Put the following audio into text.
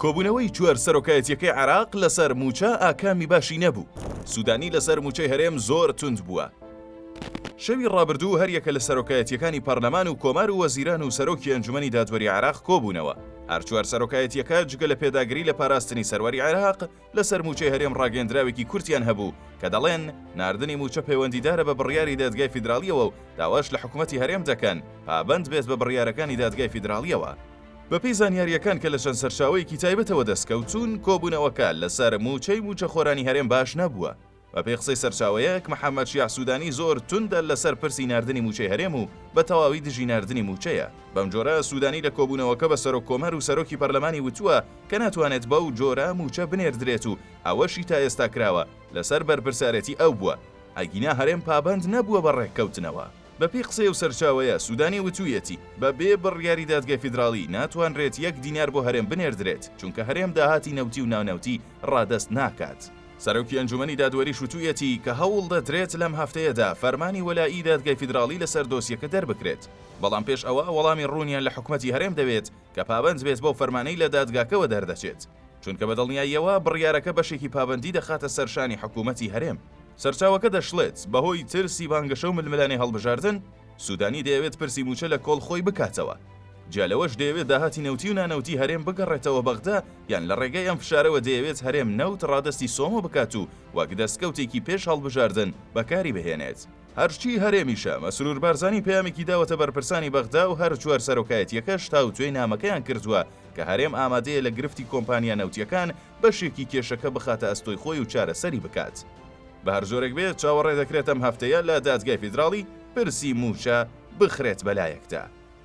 کۆبوونەوەی چوار سەرۆکایەتییەکەی عێراق لەسەر مووچە ئاکامی باشی نەبوو، سوودانی لەسەر مووچەی هەرێم زۆر توند بووە. شەوی ڕابردوو هەریەکە لە سەرۆکایەتییەکانی پەرلەمان و کۆمار و وەزیران و سەرۆکی ئەنجومەنی دادوەری عێراق کۆبوونەوە، هەر چوار سەرۆکایەتییەکە جگە لە پێداگری لە پاراستنی سەروەری عێراق، لەسەر مووچەی هەرێم ڕاگەیەندراوێکی کورتیان هەبوو کە دەڵێن، ناردنی مووچە پەیوەندیدارە بە بڕیاری دادگای فیدراڵییەوە و داواش لە حکومەتی هەرێم دەکەن پابەند بێت بە بڕیارەکانی دادگای فیدراڵییەوە. بەپێی زانیارییەکان کە لە چەند سەرچاوەیەکی تایبەتەوە دەستکەوتوون، کۆبوونەوەکە لەسەر مووچەی مووچەخۆرانی هەرێم باش نەبووە، بەپێی قسەی سەرچاوەیەک، محەمەد شیاع سودانی زۆر توندە لەسەر پرسی ناردنی مووچەی هەرێم و بە تەواوی دژی ناردنی مووچەیە. بەم جۆرە سودانی لە کۆبوونەوەکە بە سەرۆک کۆمار و سەرۆکی پەرلەمانی وتووە کە ناتوانێت بەو جۆرە مووچە بنێردرێت و ئەوەشی تا ئێستا کراوە لەسەر بەرپرسارێتی ئەو بووە، ئەگینا هەرێم پابەند نەبووە بە ڕێککەوتنەوە. بەپێی قسەی ئەو سەرچاوەیە، سودانی وتوویەتی، بەبێ بڕیاری دادگای فیدراڵی ناتوانرێت یەک دینار بۆ هەرێم بنێردرێت، چونکە هەرێم داهاتی نەوتی و نانەوتی ڕادەست ناکات. سەرۆکی ئەنجومەنی دادوەریش وتوویەتی کە هەوڵدەدرێت لەم هەفتەیەدا فەرمانی وەلائی دادگای فیدراڵی لەسەر دۆسیەکە دەربکرێت، بەڵام پێش ئەوە وەڵامی ڕوونیان لە حکومەتی هەرێم دەوێت کە پابەند بێت بەو فەرمانەی لە دادگاکەوە دەردەچێت، چونکە بە دڵنیاییەوە بڕیارەکە بەشێکی پابەندی دەخاتە سەر شانی حکومەتی هەرێم. سەرچاوەکە دەشڵێت، بەهۆی ترسی بانگەشە و ململانێ هەڵبژاردن، سوودانی دەیەوێت پرسی مووچە لە کۆڵ خۆی بکاتەوە، جیا لەوەش دەیەوێت داهاتی نەوتی و نانەوتی هەرێم بگەڕێتەوە بەغدا، یان لە ڕێگەی ئەم فشارەوە دەیەوێت هەرێم نەوت ڕادەستی سۆمۆ بکات و وەک دەستکەوتێکی پێش هەڵبژاردن بەکاری بهێنێت. هەرچی هەرێمیشە، مەسرور بارزانی پەیامێکی داوەتە بەرپرسانی بەغدا و هەر چوار سەرۆکایەتییەکەش تاوتوێی نامەکەیان کردووە کە هەرێم ئامادەیە لە گرفتی کۆمپانیا نەوتییەکان بەشێکی کێشەکە بخاتە ئەستۆی خۆی و چارەسەری بکات. بە هەر جۆرێک بێت، چاوەڕێ دەکرێت ئەم هەفتەیە لە دادگای فیدراڵی پرسی مووچە بخرێت بەلایەکدا.